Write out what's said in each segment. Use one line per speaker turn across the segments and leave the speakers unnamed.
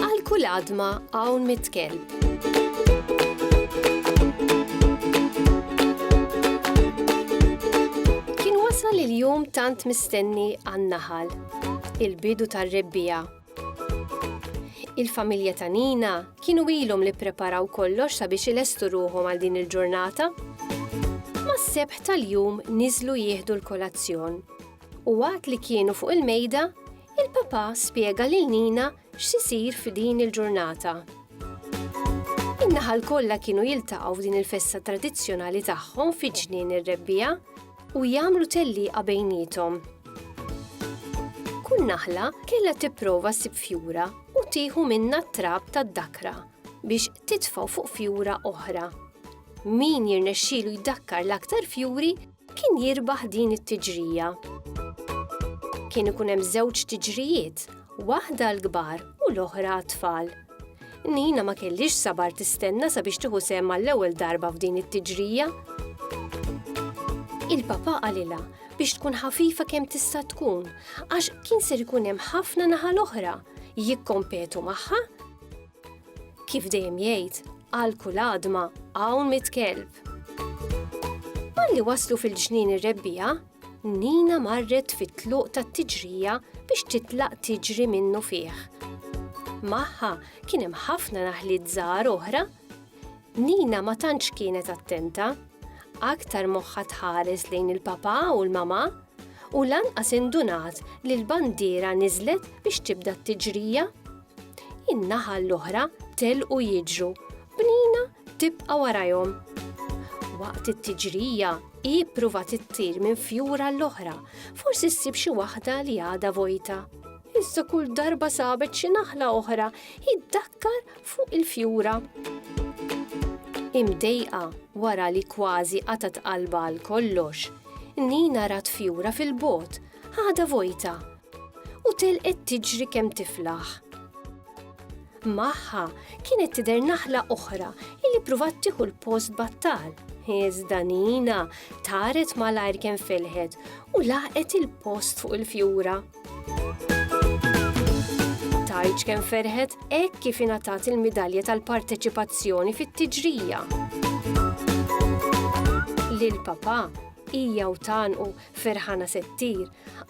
Għal kull għadma hawn mitkelb. Wasal il-jum tant mistenni għan-naħal, il-bidu tar-rebbija. Il-familja ta' Nina kienu ilhom li preparaw kollox sabiex ilestu ruħhom għal din il-ġurnata. Ma' sebħ tal-jum niżlu jieħdu l-kolazzjon. U waqt li kienu fuq il-mejda, il-papa spjega lil Nina x'isir f'din il-ġurnata. In-naħal kollha kienu jiltaqgħu f'din il-festa tradizzjonali tagħhom fi ġnien ir-rebbija u jagħmlu tellieqa bejniethom. Kull naħla kellha tipprova ssib fjura u tieħu minna t-trab tad-dakra biex titfgħu fuq fjura oħra. Min jirnexxielu jdakkar l-aktar fjuri kien jirbaħ din it-tiġrija. Kien ikun hemm żewġ tiġrijiet, waħda l-kbar u l-oħra għat-tfal. Nina ma kellix sabar tistenna sabiex tieħu sehem mal-ewwel darba f'din it-tiġrija. Il-papa qalilha biex tkun ħafifa kemm tista' tkun, għax kien ser ikun hemm ħafna naħa l-oħra jikkompetu magħha. Kif dejjem jgħid, għal kull għadma hawn mit kelb. Malli waslu fil-ġnien ir-rebbija, Nina marret fit-tluq tat-tiġrija biex titlaq tiġri minnu fih. Magħha kien hemm ħafna naħliet żgħar oħra. Nina ma tantx kienet attenta, aktar moħħa tħares lejn il-papà u l-mamà u lanqas indunat li l-bandiera niżlet biex tibda t-tiġrija. In-naħa l-oħra telqu jiġru b'Nina tibqa' warajhom. Waqt it-tiġrija, hi ppruvat ittir minn fjur għall-oħra, forsi ssib xi waħda li għadha vojta. Iżda kull darba sabet xi naħla oħra, hi ddakkar fuq il-fjura. Imdejqa wara li kważi qatgħet qalbha għal kollox, Nina rat fjura fil-bogħod, għadha vojta, u telqet tiġri kemm tiflaħ. Magħha kienet tidher naħla oħra illi pruvat tieħu l-post battal. Iżda Nina taret malajr kemm felħet u laqet il-post fuq il-fjura. Tajċ kemm ferħet hekk kif ingħatat il-midalja tal-parteċipazzjoni fit-tiġrija. Lil papà hija u tanqu ferħana settir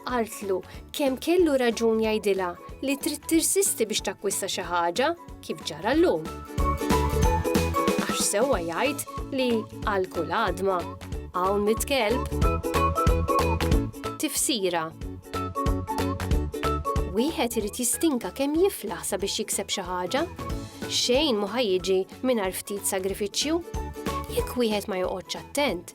Qaltlu kemm kellu raġun jgħidilha li trid tirsisti biex takkwista xi ħaġa kif ġara llum. Għax sewwa jgħid li għal kull għadma hawn mit kelb. Tifsira Wieħed irid jistinka kemm jiflaħ sabiex jikseb xi ħaġa. Xejn mhu ħajjiġi mingħajr ftit sagrifiċċju. Jekk wieħed ma joqgħodx attent,